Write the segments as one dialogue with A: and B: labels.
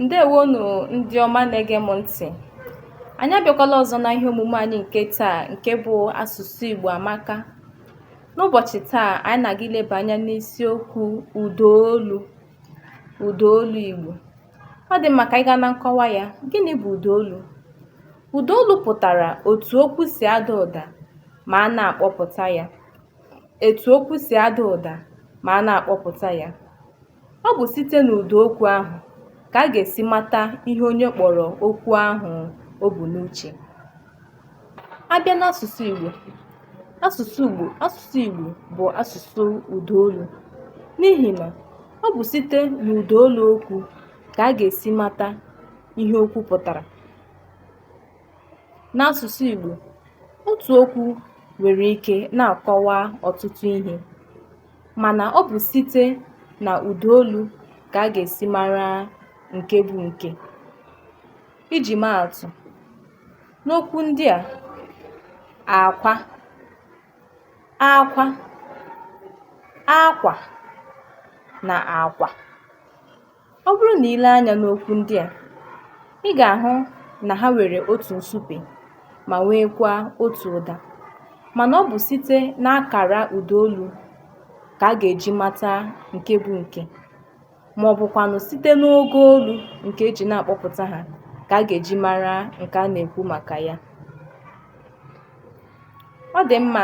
A: ndeewonụ ndị ọma na-ege m ntị anyị abịakwala ọzọ na ihe omume anyị nke taa nke bụ asụsụ Igbo amaka n'ụbọchị taa anyị na-aga ileba anya n'isiokwu ụdaolu ụdaolu Igbo ọ dị mma ka anyị gaa na nkọwa ya gịnị bụ ụdaolu ụdaolu pụtara etu okwu si ada ụda ma a na-akpọpụta ya etu okwu si ada ụda ma a na-akpọpụta ya Ọ bụ site n'ụda okwu ahụ ka a ga-esi mata ihe onye kpọrọ okwu ahụ o bu n'uche. A bịa n'asụsụ Igbo, asụsụ Igbo asụsụ Igbo bụ asụsụ ụda olu n'ihi na ọ bụ site n'ụda olu okwu ka a ga-esi mata ihe okwu pụtara. N'asụsụ Igbo, otu okwu nwere ike na-akọwa ọtụtụ ihe. Mana ọ bụ site na ụda olu ka a ga-esi mara nke bụ nke. Iji maa atụ, n'okwu ndị a, akwa, akwa, akwa na akwa. Ọ bụrụ na i lee anya n'okwu ndị a, ị ga-ahụ na ha nwere otu nsupe ma nweekwa otu ụda. Mana ọ bụ site n'akara ụda olu ka a ga-eji mata nke bụ nke ma ọ bụkwanụ site n'ogo olu nke e ji na-akpọpụta ha ka a ga-eji mara nke a na-ekwu maka ya. Ọ dị mma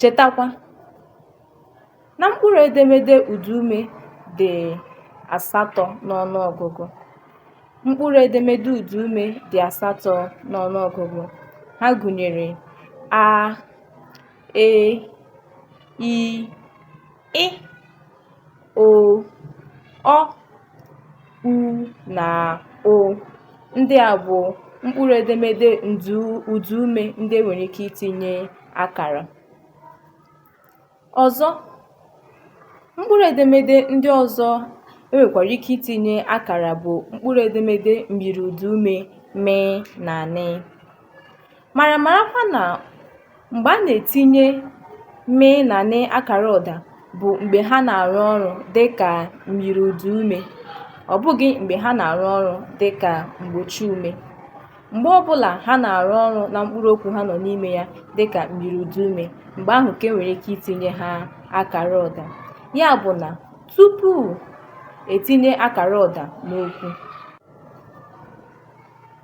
A: Chetakwa na mkpụrụ edemede ụdaume dị asatọ n'ọnụọgụgụ. Mkpụrụ edemede ụdaume dị asatọ n'ọnụọgụgụ. Ha gụnyere a, e, i. ị o ọ u na ụ ndị a bụ mkpụrụ edemede ụdaume ndị e nwere ike itinye akara ọzọ mkpụrụ edemede ndị ọzọ e nwekwara ike itinye akara bụ mkpụrụ edemede myiri ụdaume m na n mara marakwa na mgbe a na-etinye m na n akara ụda bụ mgbe ha na-arụ ọrụ dị ka myiri ụda ume, ọ bụghị mgbe ha na-arụ ọrụ dị ka mgbochi ume. Mgbe ọ bụla ha na-arụ ọrụ na mkpụrụ okwu ha nọ n'ime ya dị ka myiri ụda ume, mgbe ahụ ka e nwere ike itinye ha akara ụda. Ya bụ na tupu e tinye akara ụda n'okwu,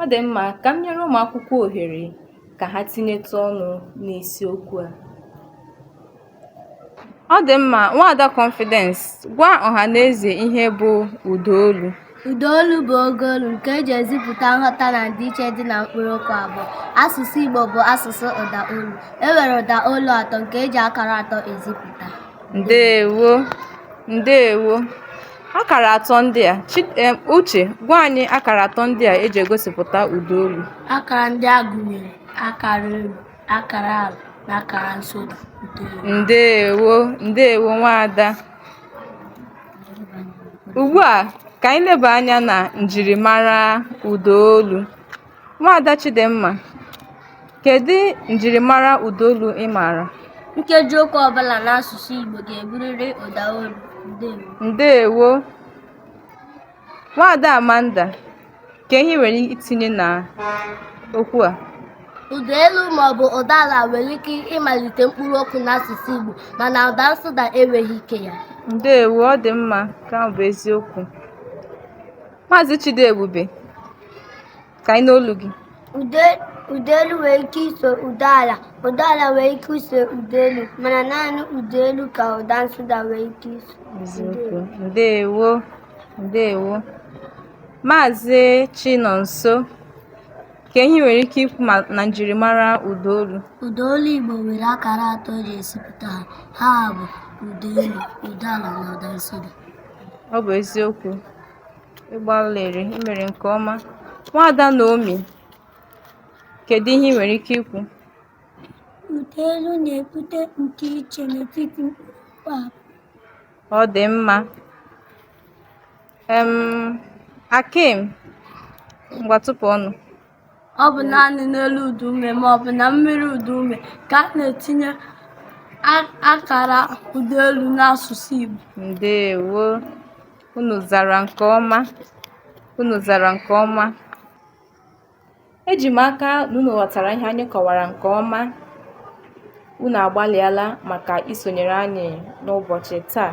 A: Ọ dị mma ka m nyere ụmụ akwụkwọ ohere ka ha tinyetụ ọnụ n'isiokwu a. Ọ dị mma, Nwaada Confidence, gwa ọha na eze ihe bụ ụda olu. Ụda olu
B: bụ ogo olu nke e ji ezipụta nghọta na ndịiche dị na mkpụrụ okwu abụọ. Asụsụ Igbo bụ asụsụ ụda olu. E nwere ụda olu atọ nke e ji akara atọ ezipụta. Ndeewo,
A: ndeewo. Akara atọ ndị a, eh, Uche, gwa anyị akara atọ ndị a eji egosipụta ụda olu. Akara ndị a
B: gụnyere akara elu, akara ala na akara nsụda.
A: Ndewo, ndewo nwaada. Ugbu a, ka anyị leba anya na njirimara ụda olu. Nwaada Chidimma, kedu njirimara ụdaolu ị maara? Nkeji
B: okwu ọbụla n'asụsụ Igbo ga-eburịrị ụdaolu. Ndewo. Ndewo.
A: Nwaada Amanda, kee ihe i nwere itinye na okwu a? Ụda
B: elu maọbụ ụda ala nwere ike ịmalite mkpụrụ okwu n'asụsụ Igbo mana ụda nsụda enweghị ike ya. Ndewo, ọ dị
A: mma, nke a bụ eziokwu. Maazị Chidiebube, ka anyị nụ olu
B: gị. Ụdaelu nwere ike iso ụdaala, ụdaala nwere ike iso ụdaelu, mana naanị ụdaelu ka ụda nsụda nwere ike iso.
A: Ndewo, ndewo. Maazị Chinonso, kee ihe i nwere ike ikwu na njirimara ụdaolu? Ụdaolu
B: Igbo nwere akara atọ eji ezipụta ha, ha bụ ụdaelu, ụdaala na ụda nsụda. Ọ bụ
A: eziokwu. ị gbalịrị i mere nke ọma nwaada Naomi kedu ihe ị nwere ike ikwu Ụda
B: elu na-ebute ndịiche n'etiti mkpụrụokwu abụọ.
A: ọ dị mma em Akim ngwa tụpụ ọnụ ọ
B: bụ naanị n'elu ụda ume ma ọ bụ na myiri ụda ume ka a na-etinye a- akara ụda elu n'asụsụ Igbo ndewo
A: unu zara nke ọma unu zara nke ọma eji m aka na unu ghọtara ihe anyị kọwara nke ọma unu agbalịala maka isonyere anyị n'ụbọchị taa